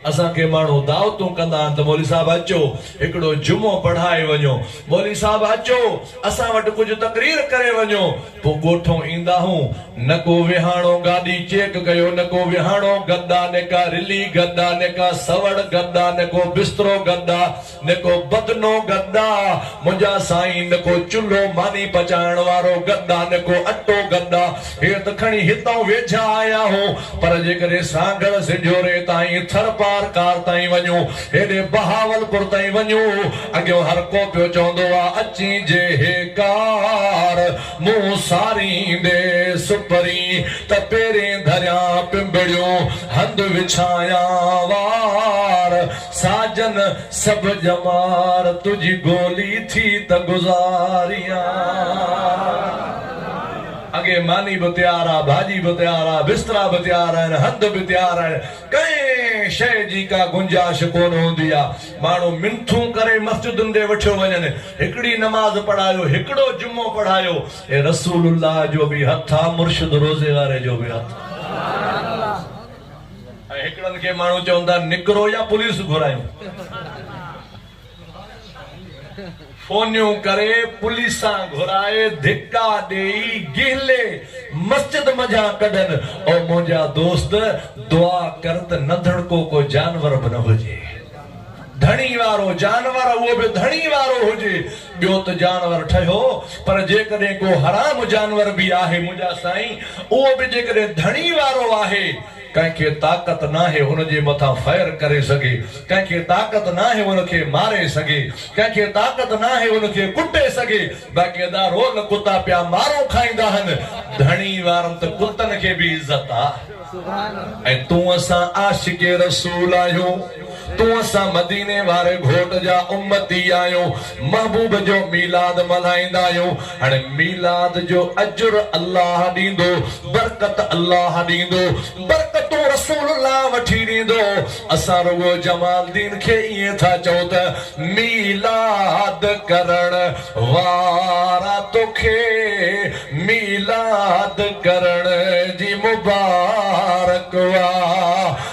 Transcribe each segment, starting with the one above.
اسان کي ماڻهو دعوتون ڪندا آهن ته مولوي صاحب اچو هڪڙو جمعو پڙهائي وڃو، مولوي صاحب اچو اسان وٽ ڪجهه تقرير ڪري وڃو، پوء ڳوٺئون ايندا هون، نه ڪو ويهاڻو گاڏي چيڪ ڪيو، نه ڪو ويهاڻو گڏ آ، نه ڪا رلي گڏ آ، نه ڪا سوڙ گڏ آ، نه ڪو بسترو گڏ آ. نه ڪو بدنو گدا، منهنجا سائين، نه ڪو چلهو ماني پچائڻ وارو گدا، نه ڪو اٽو گدا، هي ته کڻي هتئون ويجها آيا هو، پر جيڪڏهن سانگهڙ سنجهوري تائين، ٿرپارڪار تائين وڃون، هيڏي بهاولپور تائين وڃون، اڳيون هر ڪو پيو چوندو آ، اچين جي هي ڪار مون ساريندي سپرين ته پيرين ڌريان پنبڙيون هنڌ وڇايان وار، ساجن سڀ ڄمار تنهنجي گولي ٿي ته گذاريان. اڳي ماني به تيار آ، ڀاڄي به تيار آ، بسترا به تيار آهن، هنڌ به تيار آهن، ڪنهن شيء جي ڪا گنجائش ڪونه هوندي آ. ماڻهو منٿون ڪري مسجدن ڏي وٺيو وڃن، هڪڙي نماز پڙهايو، هڪڙو جمعو پڙهايو. اي رسول الله جو به هٿ آ، مرشد روضي واري جو به هٿ آ. ۽ هڪڙن کي ماڻهو چون ٿا نڪرو يا پوليس گهرايون. فونيون ڪري، پوليسان گهرائي، ڌڪا ڏيئي، گهلي، مسجد منجهان ڪڍن. او منهنجا دوست! دعا ڪر ته ننڌڻ ڪو ڪو جانور به نه هجي. ڌڻي وارو جانور اهو به ڌڻي وارو هجي. ٻيو ته جانور ٺهيو پر جيڪڏهن ڪو حرام جانور به آهي منهنجا سائين اهو به جيڪڏهن ڌڻي وارو آهي. ڪنهن کي طاقت ناهي هن جي مٿان فير ڪري سگهي، ڪنهن کي طاقت ناهي هن کي ماري سگهي، ڪنهن کي طاقت ناهي هن کي ڪٽي سگهي، باقي ادا رول ڪتا پيا مارون کائيندا هن، ڌڻي وارن ته ڪتن کي به عزت آ ۽ تون اسان عاشق رسول آهيون. تون اسان مديني واري گهوٽ جا امتي آهيون، محبوب جو ميلاد ملهائيندا آهيون، هاڻي ميلاد جو اجر الله ڏيندو، برڪت الله ڏيندو، برڪتون رسول الله وٺي ڏيندو، اسان رڳو جمال الدين کي ائين ٿا چئون ته ميلاد ڪرڻ وارا توکي ميلاد ڪرڻ جي مبارڪ هئا.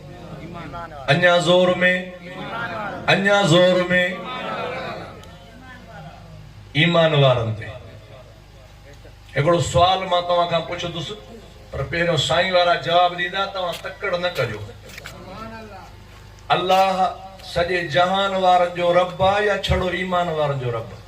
اڃا زور ۾، اڃا زور ۾، ايمان وارن تي. هڪڙو سوال مان توهان کان پڇندس پر پهريون سائين وارا جواب ڏيندا توهان تڪڙ نه ڪجو. الله سڄي جهان وارن جو رب آ يا ڇڙو ايمان وارن جو رب؟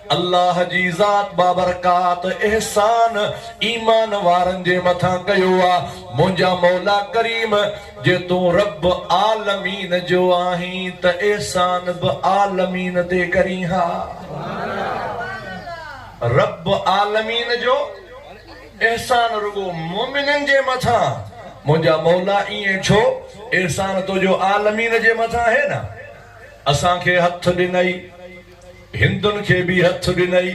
الله جي ذات بابرڪات احسان ايمان وارن جي مٿان ڪيو آ، منهنجا مولا ڪريم! جي تون رب عالمين جو آهين ته احسان به عالمين تي ڪرين ها. رب عالمين جو احسان رڳو مؤمنن جي مٿان، منهنجا مولا ائين ڇو؟ احسان تنهنجو عالمين جي مٿان آهي نه، اسان کي هٿ ڏنئي، هندن کي به هٿ ڏنئي،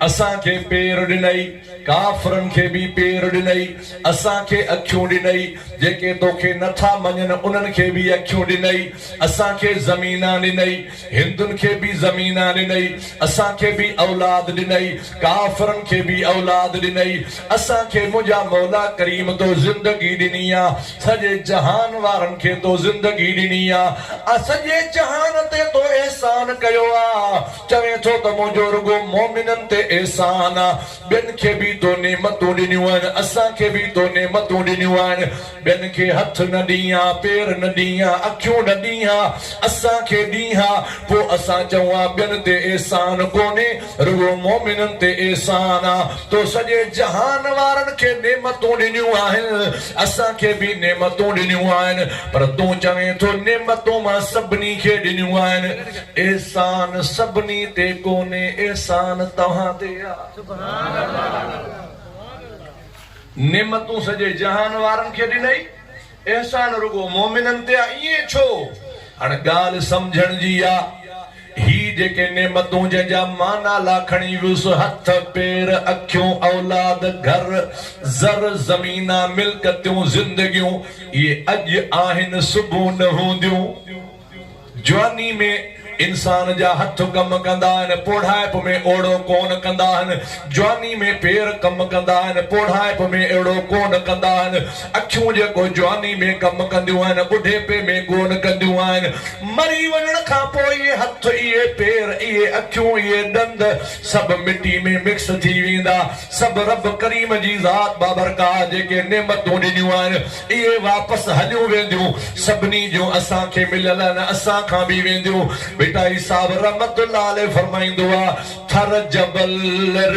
اسان کي پير ڏنئي، ڪافرن کي به پير ڏنئي، اسان کي اکيون ڏنئي، جيڪي توکي نه ٿا مڃن انهن کي به اکيون ڏنئي، اسان کي زمينان ڏنئي، هندن کي به زمينان ڏنئي، اسان کي به اولاد ڏنئي، ڪافرن کي به اولاد ڏنئي، اسان کي منهنجا مولا ڪريم تو زندگي ڏني آ، سڄي جهان وارن کي تو زندگي ڏني آ، آء سڄي جهان تي تو احسان ڪيو آ، چوين ٿو ته منهنجو رڳو مؤمنن تي احسان آ، ٻين کي به تو نعمتون ڏنيون آهن، اسان کي به تو نعمتون ڏنيون آهن. ٻين کي هٿ نه ڏينهان، پير نه ڏينهان، اکيون نه ڏينهان، اسان کي ڏينهان، پوء اسان چئون ها ٻين تي احسان ڪونهي، رڳو مؤمنن تي احسان آ، تو سڄي جهان وارن کي نعمتون ڏنيون آهن، اسان کي به نعمتون ڏنيون آهن، پر تون چوين ٿو نعمتون مان سڀني کي ڏنيون آهن، احسان سڀني تي ڪونهي، احسان توهان تي آ. نعمتون سڄي جهان وارن کي ڏنئي، احسان رڳو مؤمنن تي آ، ائين ڇو؟ هاڻ ڳالهه سمجهڻ جي آ. هي جيڪي نعمتون جنهن جا معنيٰ لاکڻي ويس، هٿ، پير، اکيون، اولاد، گهر، زر، زمينا، ملڪتيون، زندگيون، اهي اڄ آهن، صبح نه هونديون. جواني ۾ انسان جا هٿ ڪم ڪندا آهن، پوڙهائپ ۾ اوڙو ڪونه ڪندا آهن. جواني ۾ پير ڪم ڪندا آهن، پوڙهائپ ۾ اهڙو ڪونه ڪندا آهن. اکيون جيڪو جواني ۾ ڪم ڪنديون آهن، ٻڍيپي ۾ ڪونه ڪنديون آهن. مري وڃڻ کان پوء اهي هٿ، اهي پير، اهي اکيون، اهي ڏند سڀ مٽي ۾ مڪس ٿي ويندا. سڀ رب ڪريم جي ذات بابرڪات جيڪي نعمتون ڏنيون آهن، اهي واپس هليون وينديون سڀني جون اسان کي مليل آهن اسان کان به وينديون ڀٽائي صاحب رحمت الله عليه فرمائيندو آ ٿر جبل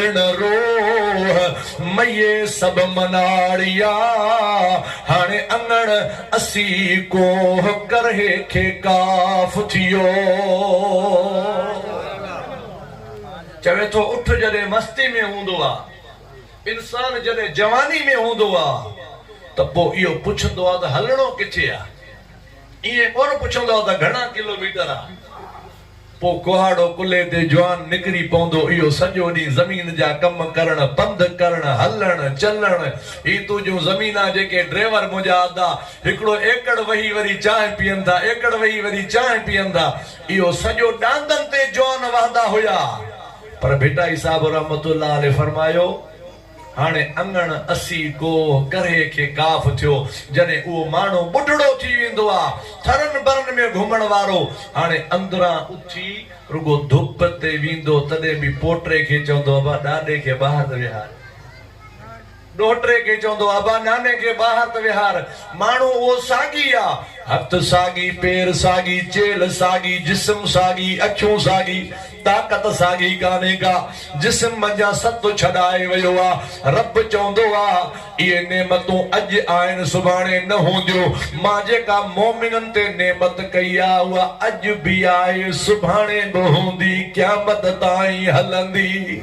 رڻ روه مئي سڀ مناڙيا هاڻي اڱڻ اسي ڪوه ڪرهي کي ڪاف ٿيو چوي ٿو اٺ جڏهن مستي ۾ هوندو آ. انسان جڏهن جواني ۾ هوندو آ ته پوء اهو پڇندو آ ته هلڻو ڪٿي آ؟ ائين ڪونه پڇندو آ ته گهڻا ڪلو ميٽر آ؟ پوء ڪهاڙو ڪلهي تي جوان نڪري پوندو اهو سڄو ڏينهن زمين جا ڪم ڪرڻ، پنڌ ڪرڻ، هلڻ، چلڻ، هي تنهنجون زمينان جيڪي ڊريور منهنجا ادا هڪڙو ايڪڙ وهي وري چانهه پيئن ٿا، ايڪڙ وهي وري چانهه پيئن ٿا، اهو سڄو ڏاندن تي جوان وهندا هيا. پر ڀٽائي صاحب رحمة الله عليه فرمايو، هاڻي اڱڻ اسي ڪوهه ڪرهي کي ڪاف ٿيو، جڏهن اهو ماڻهو ٻڍڙو ٿي ويندو آ، ٿرن برن ۾ گهمڻ وارو، هاڻي اندران اٿي رڳو ڌپ تي ويندو، تڏهن به پوٽي کي چوندو ابا ڏاڏي کي ٻاهر ته ويهار. ڏوهٽري کي چوندو ابا ناني کي ٻاهر ته ويهار، ماڻهو اهو ساڳي آ، هٿ ساڳي، پير ساڳي، چيلهه ساڳي، جسم ساڳي، اکيون ساڳي، طاقت ساڳي ڪانهي ڪا، جسم منجهان ست ڇڏائي ويو آ، رب چوندو آ اهي نعمتون اڄ آهن سڀاڻي نه هونديو، مان جيڪا مؤمنن تي نعمت ڪئي آ اها اڄ به آهي سڀاڻي به هوندي قيامت تائين هلندي.